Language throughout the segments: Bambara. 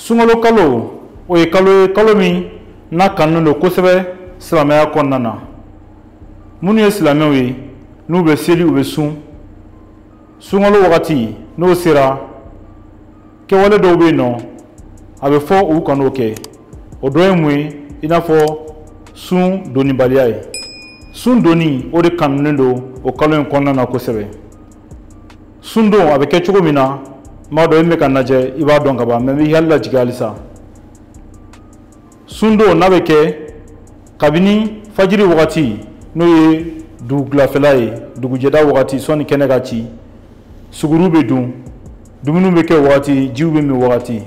sunkalo kalo o ye kalo ye kalo min n'a kanunen don kosɛbɛ silamɛya kɔnɔna na minnu ye silamɛw ye n'u bɛ seli u bɛ sun sunkalo wagati n'o sera kɛwale dɔw bɛ yen nɔ a bɛ fɔ u kan'o kɛ o dɔ ye mun ye i n'a fɔ sun donnibaliya ye sun donni o de kanunen don o kalo in kɔnɔna na kosɛbɛ sun don a bɛ kɛ cogo min na n b'a dɔn e min bɛ ka n lajɛ i b'a dɔn ka ban mais n b'i hakili lajigin halisa sun don n'a bɛ kɛ kabini fajiri wagati n'o ye dugukilafɛla ye dugujɛda wagati sɔni kɛnɛ ka ci suguru bɛ dun dumuniw bɛ kɛ wagati jiw bɛ min wagati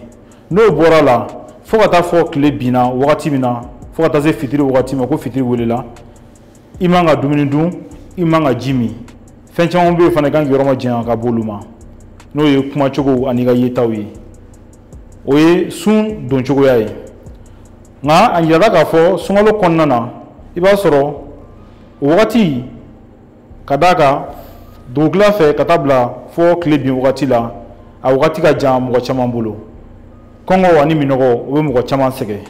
n'o bɔra la fo ka taa fo tile binna wagati min na fo ka taa se fitiri wagati ma ko fitiri welela i man ka dumuni dun i man ka ji min fɛn caman bɛ yen fana i kan k'i yɔrɔ majanya ka b'olu ma n'o ye kumacogo an'i ka yetaw ye o ye sun don cogoya ye nka a yirala k'a fɔ sunkalo kɔnɔna na i b'a sɔrɔ o wagati ka d'a kan dugukila fɛ ka taa bila fo tile bin wagati la a wagati ka jan mɔgɔ caman bolo kɔngɔ ani minɔgɔ o bɛ mɔgɔ caman sɛgɛn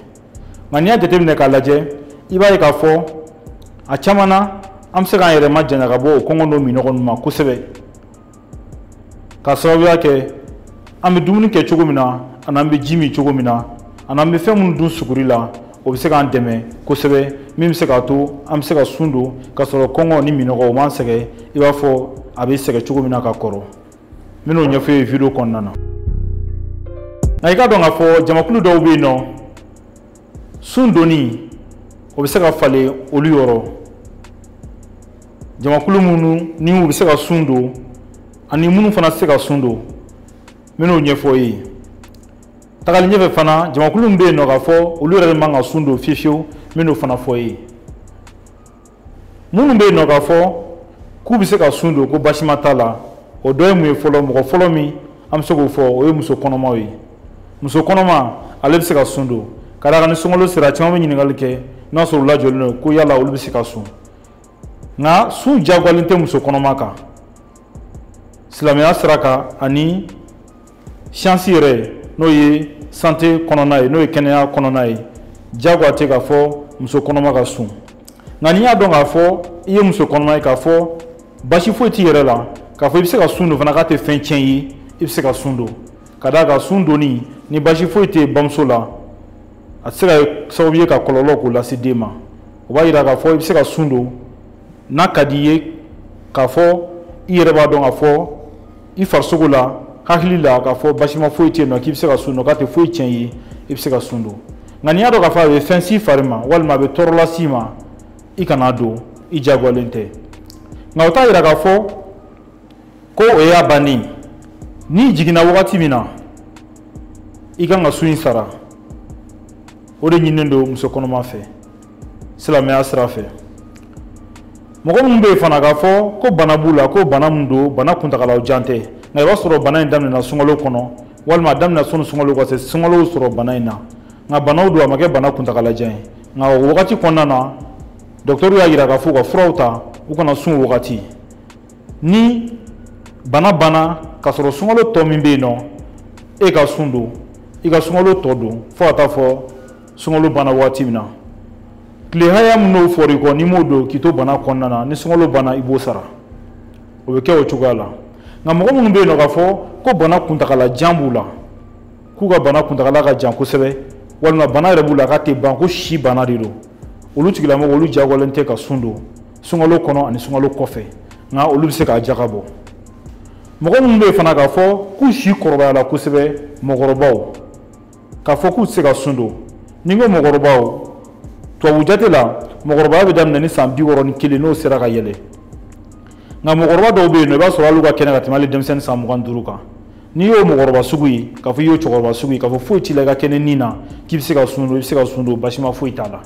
nka n'i y'a jateminɛ k'a lajɛ i b'a ye k'a fɔ a caman na an bɛ se k'an yɛrɛ majanya ka bɔ o kɔngɔ n'o minɔgɔ ninnu ma kosɛbɛ k'a sababuya kɛ an bɛ dumuni kɛ cogo min na ani an bɛ ji min cogo min na ani an bɛ fɛn minnu dun suguri la o bɛ se k'an dɛmɛ kosɛbɛ min bɛ se k'a to an bɛ se ka sun don k'a sɔrɔ kɔngɔ ni minɔgɔ o m'an sɛgɛn i b'a fɔ a bɛ sɛgɛn cogo min na ka kɔrɔ n bɛn'o ɲɛfɔ i ye video kɔnɔna na nka i k'a dɔn k'a fɔ jamakulu dɔw bɛ yen nɔ sun donni o bɛ se ka falen olu yɔrɔ jamakulu minnu ni u bɛ se ka sun don ani minnu fana tɛ se ka sun don n bɛn'o ɲɛfɔ i ye tagali ɲɛfɛ fana jamakulu min bɛ yen nɔ k'a fɔ olu yɛrɛ de man ka sun don fiyewu fiyewu n bɛn'o fana fɔ i ye minnu bɛ yen nɔ k'a fɔ k'u bɛ se ka sun don ko basima t'a la o dɔ ye mun ye fɔlɔ mɔgɔ fɔlɔ min an bɛ se k'o fɔ o ye muso kɔnɔmaw ye muso kɔnɔma ale bɛ se ka sun don ka d'a kan ni sunkalo sera caman bɛ ɲininkali kɛ n'a sɔrɔ u lajɔlen don ko yala olu bɛ se ka sun nka sun jagoyalen tɛ muso kɔnɔma kan silamɛya sira kan ani siyansi yɛrɛ n'o ye santé kɔnɔna ye n'o ye kɛnɛya kɔnɔna ye jagoya tɛ k'a fɔ muso kɔnɔma ka sun nka n'i y'a dɔn k'a fɔ i ye muso kɔnɔma ye k'a fɔ basi foyi t'i yɛrɛ la k'a fɔ i bɛ se ka sun don fana k'a tɛ fɛn tiɲɛ ye i bɛ se ka sun don ka d'a kan sun donni ni basi foyi tɛ bamuso la a tɛ se ka kɛ sababu ye ka kɔlɔlɔ ko lase den ma o b'a yira k'a fɔ i bɛ se ka sun don n'a ka di i ye k'a fɔ i yɛrɛ b'a dɔn k'a fɔ i farisogo la hakili la k'a fɔ basima foyi tɛ yen nɔ k'i bɛ se ka sun don k'a tɛ foyi tiɲɛ i ye i bɛ se ka sun don nka n'i y'a dɔn k'a fɔ a bɛ fɛn s'i fari ma walima a bɛ tɔɔrɔ las'i ma i kana don i jagoyalen tɛ nka o t'a yira k'a fɔ ko o y'a bannen n'i jiginna wagati min na i kan ka sun in sara o de ɲininen don muso kɔnɔma fɛ silamɛya sira fɛ mɔgɔ minnu bɛ yen fana k'a fɔ ko bana b'u la ko bana min don bana kuntagala jan tɛ nka i b'a sɔrɔ bana in daminɛna sunkalo kɔnɔ walima a daminɛ sanni sunkalo ka se sunkalo sɔrɔ bana in na nka banaw don a ma kɛ bana kuntagala jan ye nka o wagati kɔnɔna na dɔgɔtɔrɔw y'a yira k'a fɔ u ka furaw ta u kana sun wagati ni bana banna k'a sɔrɔ sunkalo tɔ min bɛ yen nɔ e ka sun don i ka sunkalo tɔ don fo ka taa fɔ sunkalo banna wagati min na tile hakɛya min n'o fɔra i kɔ n'i m'o don k'i to bana kɔnɔna na ni sunkalo banna i b'o sara o bɛ kɛ o cogoya la nka mɔgɔ minnu bɛ yen nɔ k'a fɔ ko bana kuntagala jan b'u la k'u ka bana kuntagala ka jan kosɛbɛ walima bana yɛrɛ b'u la k'a tɛ ban ko si bana de don olu tigilamɔgɔ olu jagoyalen tɛ ka sun don sunkalo kɔnɔ ani sunkalo kɔfɛ nka olu bɛ se k'a jaka bɔ mɔgɔ minnu bɛ yen fana k'a fɔ k'u si kɔrɔbayala kosɛbɛ mɔgɔkɔrɔbaw k'a fɔ k'u tɛ se ka sun don ni n ko mɔgɔkɔrɔbaw tubabu jate la mɔgɔkɔrɔbaya bɛ daminɛ ni san bi wɔɔrɔ ni kelen n'o sera ka yɛlɛ nka mɔgɔkɔrɔba dɔw bɛ yen nɔ i b'a sɔrɔ hali u ka kɛnɛ ka tɛmɛ hali denmisɛnnin san mugan duuru kan n'i y'o mɔgɔkɔrɔba sugu ye k'a fɔ i y'o cɛkɔrɔba sugu ye k'a fɔ foyi t'i la i ka kɛnɛ ni na k'i bɛ se ka sun don i bɛ se ka sun don basima foyi t'a la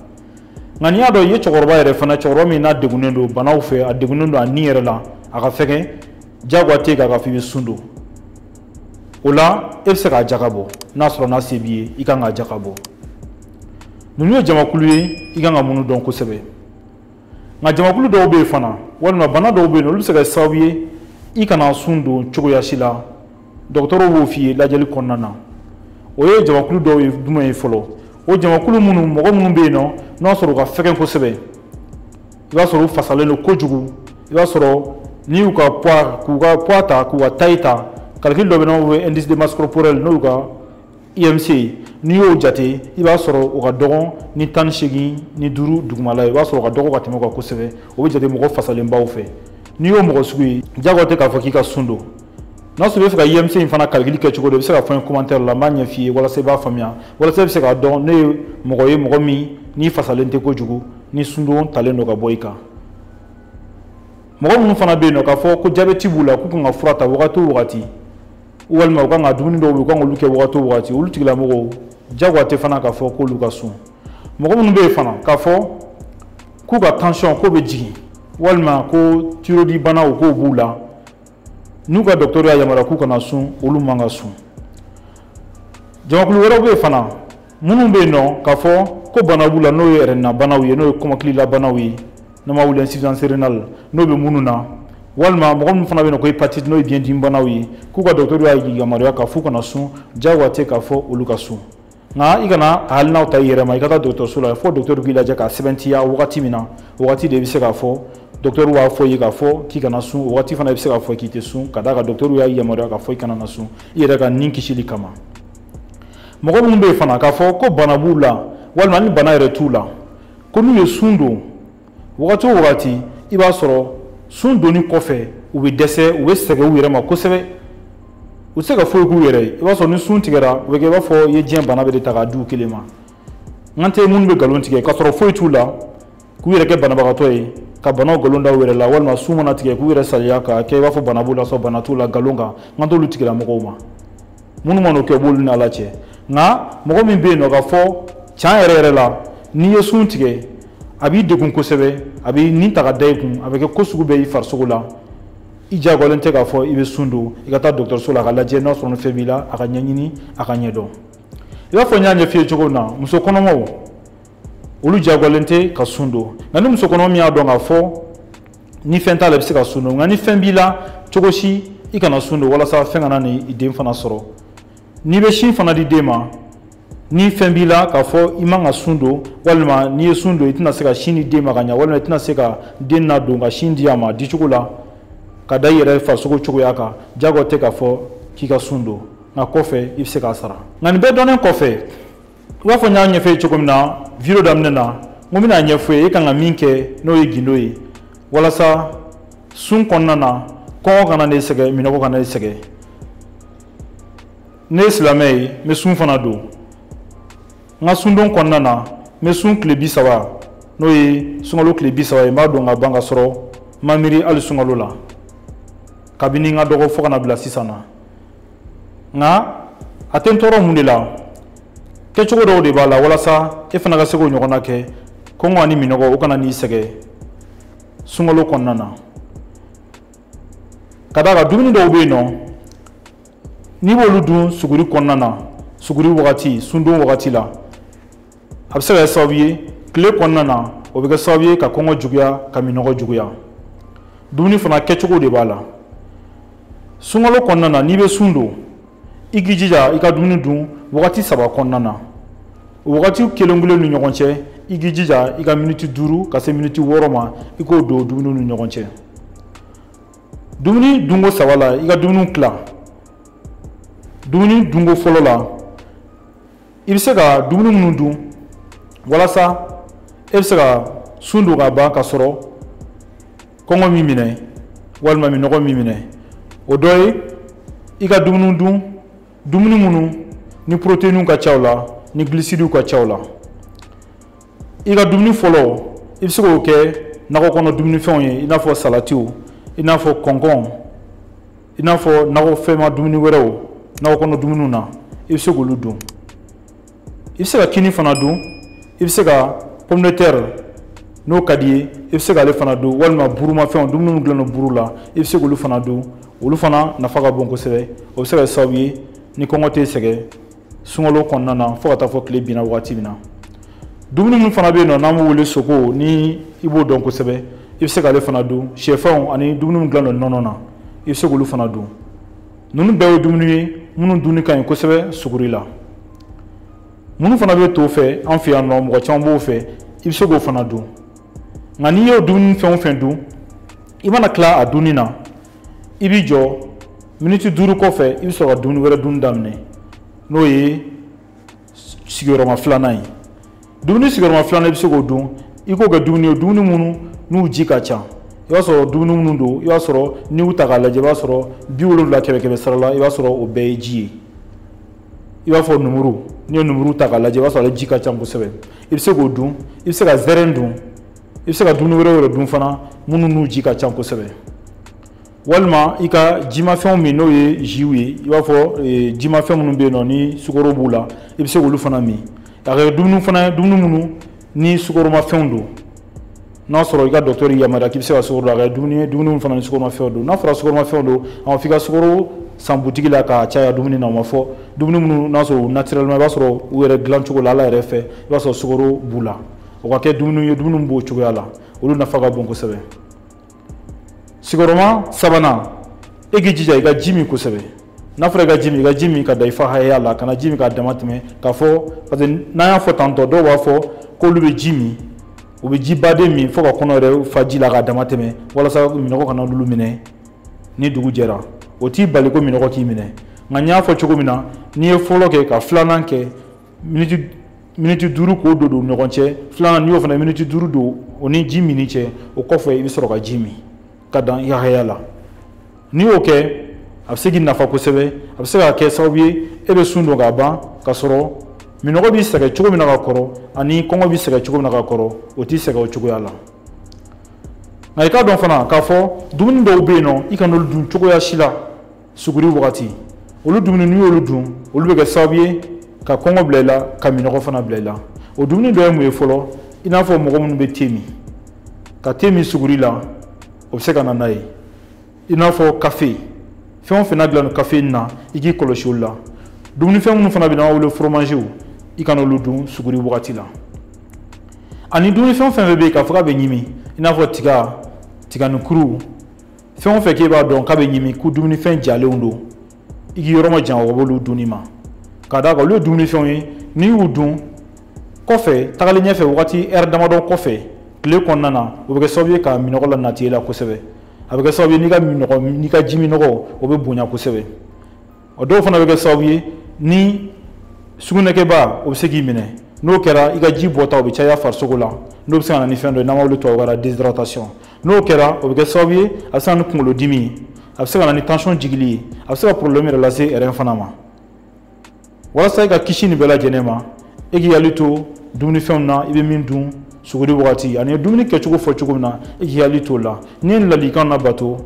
nka n'i y'a dɔn i ye cɛkɔrɔba yɛrɛ fana cɛkɔrɔba min n'a degunnen don banaw fɛ a degunnen don a ni yɛrɛ la a ka fɛgɛn jagoya tɛ k'a fɔ i bɛ sun don o la e bɛ se k'a jaka bɔ n'a sɔrɔ n'a se b'i ye i kan k'a jaka bɔ ninnu ye jamakulu ye i kan ka minnu dɔn kosɛbɛ nka jamakulu dɔw bɛ yen fana walima bana dɔw bɛ yen olu bɛ se ka kɛ sababu ye i kana sun don cogoya si la dɔgɔtɔrɔw b'o f'i ye lajɛli kɔnɔna na o ye jamakulu dɔw ye jumɛn ye fɔlɔ o jamakulu minnu mɔgɔ minnu bɛ yen nɔ n'a sɔrɔ u ka fɛgɛn kosɛbɛ i b'a sɔrɔ u fasalen don kojugu i b'a sɔrɔ n'i y'u ka poids k'u ka poids ta k'u ka taille ta calcul dɔ bɛ n'o bɛ indice de masse corporelle n'o y'u ka IMC ye n'i y'o jate i b'a sɔrɔ o ka dɔgɔn ni tan ni seegin ni duuru dugumala ye i b'a sɔrɔ o ka dɔgɔ ka tɛmɛ o kan kosɛbɛ o bɛ jate mɔgɔ fasalenbaw fɛ n'i y'o mɔgɔ sugu ye jagoya tɛ k'a fɔ k'i ka sun don n'a sɔrɔ i bɛ fɛ ka IMC in fana calcul kɛ cogo dɔn i bɛ se k'a fɔ n ye commentaire la n b'a ɲɛf'i ye walasa i b'a faamuya walasa i bɛ se k'a dɔn ne ye mɔgɔ ye mɔgɔ min n'i fasalen tɛ kojugu ni sundon talen don ka bɔ i kan mɔgɔ minnu fana bɛ yen nɔ k'a fɔ ko jabɛti b'u la k'u kan ka fura ta wagati o wagati walima u kan ka dumuni dɔw bɛ yen u kan k'olu kɛ wagati o wagati olu tigilamɔgɔw jagoya tɛ fana k'a fɔ k'olu ka sun mɔgɔ minnu bɛ yen fana k'a fɔ k'u ka tansiyɔn k'o bɛ jigin walima ko thyroïde banaw k'o b'u la n'u ka dɔgɔtɔrɔ y'a yamaruya k'u kana sun olu man ka sun jamakulu wɛrɛw bɛ yen fana minnu bɛ yen nɔ k'a fɔ ko bana b'u la n'o ye rein na banaw ye n'o ye kɔmɔkililabanaw ye n'an b'a wele insuffisance rénale n'o bɛ minnu na walima mɔgɔ minnu fana bɛ yen nɔ ko hépatite n'o ye biɲɛdimi banaw ye k'u ka dɔgɔtɔrɔ y'a yamaruya k'a f'u kana sun jagoya tɛ k'a fɔ olu ka sun nka i kana a hakilinaw ta i yɛrɛ ma i ka taa dɔgɔtɔrɔso la fo dɔgɔtɔrɔ k'i lajɛ k'a sɛbɛntiya wagati min na o wagati de i bɛ se k'a fɔ dɔgɔtɔrɔ b'a fɔ i ye k'a fɔ k'i kana sun o wagati fana i bɛ se k'a fɔ k'i tɛ sun ka d'a kan dɔgɔtɔrɔ y'a yamaruya k'a fɔ i kana na sun i yɛrɛ ka nin kisili kama mɔgɔ minnu bɛ yen fana k'a fɔ ko bana b'u la walima ni bana yɛrɛ t'u la ko n'u ye sun don wagati o wagati i b'a sɔrɔ sun donni kɔfɛ u bɛ dɛsɛ u bɛ sɛgɛn u yɛrɛ ma kosɛbɛ u tɛ se ka foyi k'u yɛrɛ ye i b'a sɔrɔ ni sun tigɛra u bɛ kɛ i b'a fɔ i ye diɲɛ bana bɛɛ de ta k'a di u kelen ma n kan tɛ minnu bɛ nkalon tigɛ k'a sɔrɔ foyi t'u la k'u yɛrɛ kɛ banabagatɔ ye ka banaw nkalon da u yɛrɛ la walima sun mana tigɛ k'u yɛrɛ saliya k'a kɛ i b'a fɔ bana b'u la sɔrɔ bana t'u la nkalon kan n kan t'olu tigilamɔgɔw ma minnu man'o kɛ b'olu ni ala cɛ nka mɔgɔ min bɛ yen nɔ k'a fɔ can yɛrɛ yɛrɛ la n'i ye sun tigɛ a b'i degun kosɛbɛ a bɛ nin ta ka da i kun a bɛ kɛ ko sugu bɛɛ i farisogo la i jagoyalen tɛ k'a fɔ i bɛ sun don i ka taa dɔgɔtɔrɔso la a k'a lajɛ n'a sɔrɔ ni fɛn b'i la a k'a ɲɛɲini a k'a ɲɛdɔn i b'a fɔ n y'a ɲɛf'i ye cogo min na muso kɔnɔmaw olu jagoyalen tɛ ka sun don nka ni muso kɔnɔma min y'a dɔn k'a fɔ ni fɛn t'a la i bɛ se ka sun don nka ni fɛn b'i la cogo si i kana sun don walasa fɛn kana i ni i den fana sɔrɔ n'i bɛ sin fana di den ma ni fɛn b'i la k'a fɔ i man ka sun don walima n'i ye sun don i tɛna se ka sin di den ma ka ɲa walima i tɛna se ka den nadon ka sin di a ma dicogo la ka da i yɛrɛ farisogo cogoya kan jagoya tɛ k'a fɔ k'i ka sun don nka kɔfɛ i bɛ se k'a sara nka nin bɛɛ dɔnnen kɔfɛ i b'a fɔ n y'a ɲɛf'i ye cogo min na video daminɛ na n ko n bɛna a ɲɛf'i ye i kan ka min kɛ n'o ye gindo ye walasa sun kɔnɔna na kɔngɔ kana n'i sɛgɛn minnɔgɔ kana n'i sɛgɛn ne ye silamɛ ye n bɛ sun fana don n ka sundon kɔnɔna na n bɛ sun tile bi saba n'o ye sunkalo tile bi saba ye n b'a don ka ban ka sɔrɔ n ma miiri hali sunkalo la kabini n ka dɔgɔ fo ka na bila sisan na nka a tɛ n tɔɔrɔ mun de la kɛcogo dɔw de b'a la walasa e fana ka se k'o ɲɔgɔnna kɛ kɔngɔ ani minɔgɔ o kana n'i sɛgɛn sunkalo kɔnɔna na ka d'a kan dumuni dɔw bɛ yen nɔ n'i b'olu dun suguri kɔnɔna na suguri wagati sundon wagati la a bɛ se ka kɛ sababu ye tile kɔnɔna na o bɛ kɛ sababu ye ka kɔngɔ juguya ka minɔgɔ juguya dumuni fana kɛcogo de b'a la sunkalo kɔnɔna na n'i bɛ sun don i k'i jija i ka dumuni dun wagati saba kɔnɔna na o wagati kelen kelen ni ɲɔgɔn cɛ i k'i jija i ka miniti duuru ka se miniti wɔɔrɔ ma i k'o don dumuni ni ɲɔgɔn cɛ dumuni dunko saba la i ka dumuni tila dumuni dunko fɔlɔ la i bɛ se ka dumuni minnu dun walasa e bɛ se ka sun don ka ban k'a sɔrɔ kɔngɔ m'i minɛ walima minɔgɔ m'i minɛ o dɔ ye i ka dumuni dun dumuni minnu ni poroteyiniw ka ca u la ni gilisidiw ka ca u la i ka dumuni fɔlɔ i bɛ se k'o kɛ nakɔ kɔnɔ dumunifɛnw ye i n'a fɔ salatiw i n'a fɔ kɔnkɔn i n'a fɔ nakɔfɛnma dumuni wɛrɛw nakɔ kɔnɔ dumuniw na i bɛ se k'olu dun i bɛ se ka kini fana dun i bɛ se ka pomme de terre n'o ka d'i ye i bɛ se k'ale fana dun walima burumafɛnw dumuni min dilannen don buru la i bɛ se k'olu fana dun olu fana nafa ka bon kosɛbɛ o bɛ se ka kɛ sababu ye ni kɔngɔ t'i sɛgɛn sunkalo kɔnɔna na fo ka taa fɔ tile binna wagati min na dumuni min fana bɛ yen nɔ n'an b'o wele soko ni i b'o dɔn kosɛbɛ i bɛ se k'ale fana dun sɛfɛnw ani dumuni min dilannen don nɔnɔ na i bɛ se k'olu fana dun ninnu bɛɛ ye dumuni ye minnu dunni ka ɲi kosɛbɛ suguri la minnu fana bɛ to fɛ an fɛ yan nɔ mɔgɔ caman b'o fɛ i bɛ se k'o fana dun nka n'i y'o dumuni fɛn o fɛn dun i mana tila a dunni na i b'i jɔ miniti duuru kɔfɛ i bɛ sɔrɔ ka dumuni wɛrɛ dun daminɛ n'o ye sigiyɔrɔma filanan ye dumuni sigiyɔrɔma filanan i bɛ se k'o dun i k'o kɛ dumuni ye dumuni minnu n'u ji ka ca i b'a sɔrɔ dumuni minnu don i b'a sɔrɔ n'i y'u ta k'a lajɛ i b'a sɔrɔ bi wolonwula kɛmɛ kɛmɛ sara la i b'a sɔrɔ o bɛɛ ye ji ye i b'a fɔ numuru n'i ye numuru ta k'a lajɛ i b'a sɔrɔ ale ji ka ca kosɛbɛ i bɛ se k'o dun i bɛ se ka zɛrɛn dun i bɛ se ka dumuni wɛrɛw yɛrɛ dun fana minnu n'u ji ka ca kosɛbɛ walima i ka jimafɛnw min n'o ye ziw ye i b'a fɔ eh, jimafɛn minnu bɛ yen nɔ ni sukoro b'u la i bɛ se k'olu fana min ka kɛ dumuni fana ye dumuni minnu ni sukoromafɛnw don n'a sɔrɔ i ka dɔgɔtɔrɔ y'i yamaruya k'i bɛ se ka sukoro dun a kɛ dumuni ye dumuni fana ni sukoromafɛnw don n'a fɔra sukoromafɛnw don a ma f'i ka sukoro san butigi la k'a caya dumuni na o ma fɔ dumuni minnu n'a sɔrɔ u naturellement i b'a sɔrɔ u yɛrɛ dilancogo la ala yɛrɛ fɛ i b'a sɔrɔ sukoro b'u la o ka kɛ dumuni ye dumuni b'o cogoya la olu nafa ka bon kosɛbɛ sigiyɔrɔma sabanan e k'i jija i ka ji min kosɛbɛ n'a fɔra i ka ji min i ka ji min ka dan i fa hakɛya la kana ji min k'a dama tɛmɛ k'a fɔ parce que n'an y'a fɔ tantôt dɔw b'a fɔ k'olu bɛ ji min u bɛ jiba de min fo ka kɔnɔ yɛrɛ fa ji la k'a dama tɛmɛ walasa minɔgɔ kana olu minɛ ni dugu jɛra o t'i bali ko minɔgɔ k'i minɛ nka n y'a fɔ cogo min na n'i ye fɔlɔ kɛ ka filanan kɛ miniti miniti duuru k'o don don ɲɔgɔn cɛ filanan n'i y'o fana miniti duuru don o ni ji minni cɛ o kɔfɛ i bɛ sɔrɔ ka ji min ka dan i ka hakɛya la n'i y'o kɛ a bɛ se k'i nafa kosɛbɛ a bɛ se ka kɛ sababu ye e bɛ sun don k'a ban ka sɔrɔ minɔgɔ b'i sɛgɛn cogo min na ka kɔrɔ ani kɔngɔ b'i sɛgɛn cogo min na ka kɔrɔ o t'i sɛgɛn o cogoya la nka i k'a dɔn fana k'a fɔ dumuni dɔw bɛ yen n'o i kana olu dun cogoya si la suguri wagati olu dumuni n'i y'olu dun olu bɛ kɛ sababu ye ka kɔngɔ bila i la ka minɔgɔ fana bila i la o dumuni dɔ ye mun ye fɔlɔ i n'a fɔ mɔgɔ minnu bɛ te min ka te min suguri la o bɛ se ka na n'a ye i n'a fɔ kafe fɛn o fɛn n'a dilanna kafe na i k'i kɔlɔsi olu la dumunifɛn minnu fana bɛ n'an b'a wele foromaziw i kana olu dun suguri wagati la ani dumunifɛn fɛn fɛn bɛ yen k'a fɔ k'a bɛ ɲimi i n'a fɔ tiga tiganinkuru fɛn o fɛn k'e b'a dɔn k'a bɛ ɲimi ko dumunifɛn jalenw don i k'i yɔrɔ majanya ka b'olu dunni ma ka d'a kan olu ye dumunifɛnw ye n'i y'u dun kɔfɛ tagalen ɲɛfɛ wagati ɛri damadɔ kɔfɛ tile kɔnɔna na o bɛ kɛ sababu ye ka minɔgɔ lanati e la kosɛbɛ a bɛ kɛ sababu ye n'i ka minɔgɔ n'i ka ji minɔgɔ o bɛ bonya kosɛbɛ o dɔw fana bɛ kɛ sababu ye ni sugunɛkɛba o bɛ se k'i minɛ n'o kɛra i ka ji bɔta o bɛ caya farisogo la n'o bɛ se ka na ni fɛn dɔ ye n'an b'o wele tubabukan na déshydratation n'o kɛra o bɛ kɛ sababu ye a bɛ se ka na ni kunkolodimi ye a bɛ se ka na ni tension jigili ye a bɛ se ka problème yɛrɛ lase rein fana ma walasa i ka kisi nin bɛɛ lajɛlen ma e k'i hakili to dumunifɛnw na i bɛ min dun suguri wagati ani dumuni kɛcogo fɔ cogo min na i k'i hakili t'o la n'i ye nin ladilikan labato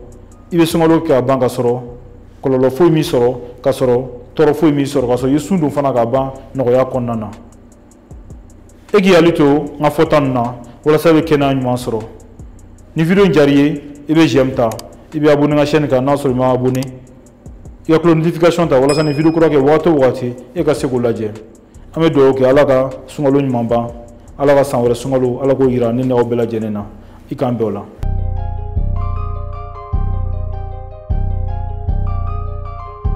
i bɛ sunkalo kɛ ka ban ka sɔrɔ kɔlɔlɔ foyi m'i sɔrɔ ka sɔrɔ tɔɔrɔ foyi m'i sɔrɔ ka sɔrɔ i ye sun don fana ka ban nɔgɔya kɔnɔna na e k'i hakili to n ka fɔta ninnu na walasa i bɛ kɛnɛya ɲuman sɔrɔ ni video in diyara i ye i bɛ j'aime ta i bɛ abonné n ka chaîne kan n'a sɔrɔ i ma abonné i ka cloche notification ta walasa ni video kura kɛ wagati o wagati e ka se k'o lajɛ an bɛ dugawu kɛ ala ka sunkalo ɲuman ban ala ka san wɛrɛ sunkalo ala k'o yira ne n'aw bɛɛ lajɛlen na i k'an bɛn o la